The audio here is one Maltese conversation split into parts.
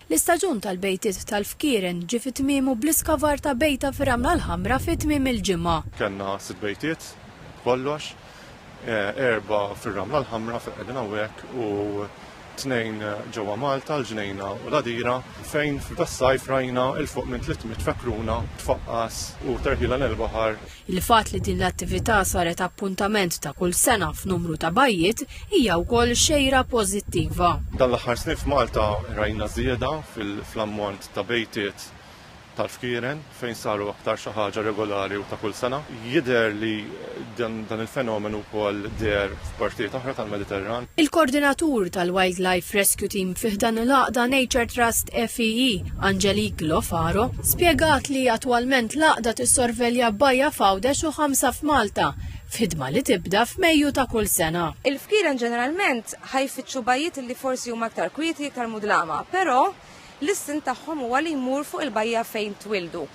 L-istaġun tal-bejtiet tal-fkieren ġie fi tmiemu bl-iskavar ta' bejta fir-Ramla l-Ħamra fi tmiem il-ġimgħa. Kellna sitt bejtiet b'kollox, erbgħa fir-Ramla l-Ħamra fejn qegħdin hawnhekk u tnejn ġewwa Malta, l-Ġnejna u l-Għadira, fejn f'das-sajf rajna 'l fuq minn tliet mitt fekruna tfaqqas u terħilha nel-baħar. Il-fatt li din l-attività saret appuntament ta' kull sena f'numru ta' bajjiet hija wkoll xejra pożittiva. Dan l-aħħar snin f'Malta rajna żieda fl-ammont ta' bejtiet tal-fkieren fejn saru aktar xi ħaġa regolari u ta' kull sena. Jidher li dan il-fenomenu wkoll deher f'partijiet oħra tal-Mediterran. Il-Kordinatur tal-Wildlife Rescue Team fi ħdan il-għaqda Nature Trust FEE, Angelique Lo Faro, spjegat li attwalment l-Għaqda tissorvelja bajja f'Għawdex u ħamsa f'Malta, f'ħidma li tibda f'Mejju ta' kull sena. Il-fkieren ġeneralment ħa jfittxu bajjiet li forsi huma iktar kwieti, iktar mudlama, però l-istint tagħhom huwa li jmur fuq il-bajja fejn twieldu.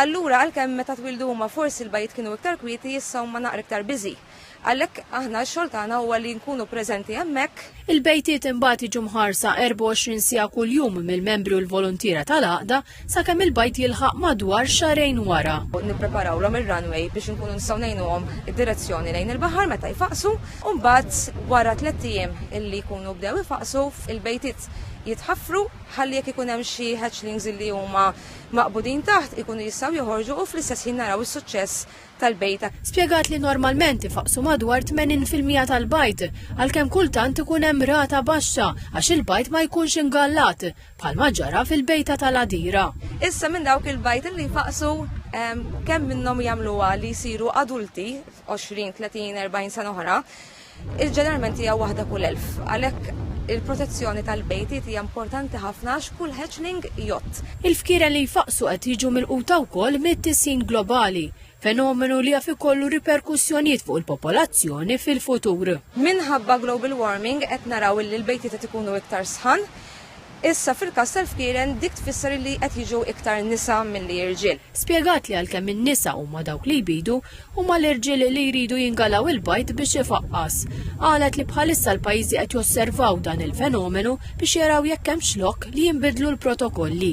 Allura għalkemm meta twieldu huma forsi l-bajjiet kienu iktar kwieti, issa huma naqra iktar busy. Għalhekk aħna x-xogħol tagħna huwa li nkunu preżenti hemmhekk. Il-bejtiet imbagħad jiġu mħarsa 24 siegħa kuljum mill-membri u l-voluntiera tal-Għaqda sakemm il-bajd jilħaq madwar xahrejn wara. Nippreparawlhom ir-runway biex inkunu nistgħu ngħinuhom id-direzzjoni lejn il-baħar meta jfaqqsu u mbagħad wara tlett ijiem illi jkunu bdew ifaqqsu il-bejtiet jitħaffru ħalli jekk ikun hemm xi hatchlings li huma maqbudin taħt ikunu jistgħu joħorġu u fl-istess ħin naraw is-suċċess tal-bajd. Spjegat li normalment ifaqqsu madwar 80 fil-mija tal-bajd, għalkemm kultant ikun hemm rata baxxa għax il-bajd ma jkunx ingallat, bħalma ġara fil-bejta tal-Għadira. Issa minn dawk il-bajd li jfaqqsu, kemm minnhom jagħmluha li jsiru adulti f'għoxrin, tletin, erbgħin sena oħra? Iż ġeneralment hija waħda kull elf, għalhekk il-protezzjoni tal-bejtiet hija importanti ħafna għax kull hatchling jgħodd. Il-fkieren li jfaqqsu qed jiġu milquta wkoll mit-tisħin globali, fenomenu li jaf ikollu riperkussjonijiet fuq il-popolazzjoni fil-futur. Minħabba global warming qed naraw illi l-bejtiet qed ikunu iktar sħan, Issa fil-każ tal-fkieren dik tfisser illi qed jiġu iktar nisa milli irġiel. Spjegat li għalkemm in-nisa huma dawk li jbidu, huma l-irġiel li jridu jingalgħu il-bajd biex ifaqqas. Qalet li bħalissa l-pajjiżi qed josservaw dan il-fenomenu biex jaraw jekk hemmx lok li jinbidlu l-protokolli.